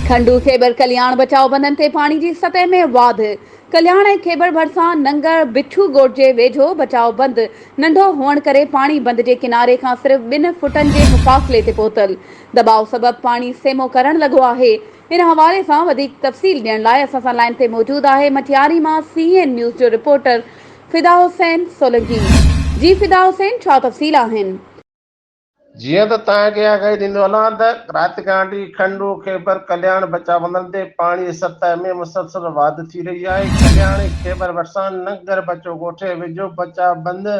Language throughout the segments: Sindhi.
کنڊو خيبر ڪلياڻ بچاء بندن تي پاڻي جي سطح ۾ واڌ، ڪلياڻ ۽ خيبر ڀرسان ننگر بٺو ڳوٺ جي ويجهو بچاء بند ننڍو هئڻ ڪري پاڻي بند جي ڪناري کان صرف ٻن فٽن جي مفاصلي تي پهتل دٻاء سبب پاڻي سيمو ڪرڻ لڳو آهي ان حوالي سان وڌيڪ تفصيل ڏيڻ لاء اسان سان لائين تي موجود آهي مٽياري مان سي اين نيوز جو رپورٽر فدا حسين سولنگي جي فدا حسين ڇا تفصيل آهن. جيئن ته توهان کي آگاهي ڏيندو هلان ته رات گانڊي، کنڊو، خيبر، ڪلياڻ بچا بندن تي پاڻي جي سطح ۾ مسلسل واڌ ٿي رهي آهي، ڪلياڻ ۽ خيبر ڀرسان ننگر بچو ڳوٺي ويجهو بچا بند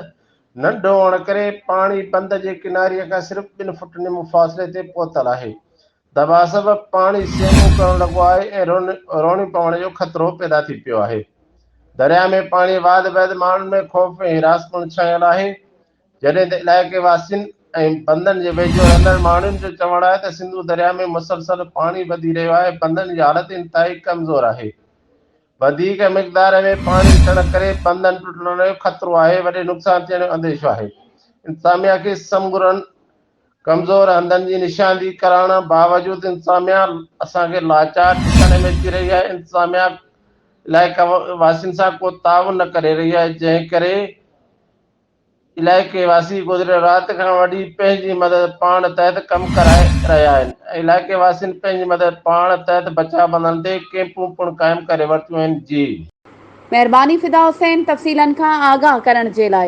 ننڍو هئڻ ڪري پاڻي بند جي ڪناري کان صرف ٻن فٽ نيمو فاصلي تي پهتل آهي، دٻاء سبب پاڻي سينون ڪرڻ لڳو آهي ۽ روڻي پوڻ جو خطرو پيدا ٿي پيو آهي، درياء ۾ پاڻي واڌ بعد ماڻهن ۾ خوف ۽ حراس پڻ ڇانيل آهي. جڏهن ته علائقي واسين ۽ بندن جي ويجهو رهندڙ ماڻهن جو چوڻ آهي ته سنڌو درياء ۾ مسلسل پاڻي وڌي رهيو آهي بندن جي حالت انتهائي ڪمزور آهي وڌيڪ مقدار ۾ پاڻي اچڻ ڪري بندن ٽٽڻ جو خطرو آهي وڏي نقصان ٿيڻ جو انديشو آهي انتظاميا کي سمگرن ڪمزور هنڌن جي نشاندهي ڪرائڻ باوجود انتظاميا اسان کي لاچار ڏسڻ ۾ اچي رهي آهي انتظاميا علائقا واسين سان ڪو تعاون نه ڪري رهي آهي جنهن ڪري علائقي واسي گذريل رات کان وٺي پنهنجي مدد پاڻ تحت ڪم ڪرائي رهيا آهن ۽ علائقي واسين پنهنجي مدد پاڻ تحت بچاء بندن تي ڪئمپون پڻ قائم ڪري ورتيون آهن جي مهرباني فدا حسين تفصيلن کان آگاهه ڪرڻ جي لاء.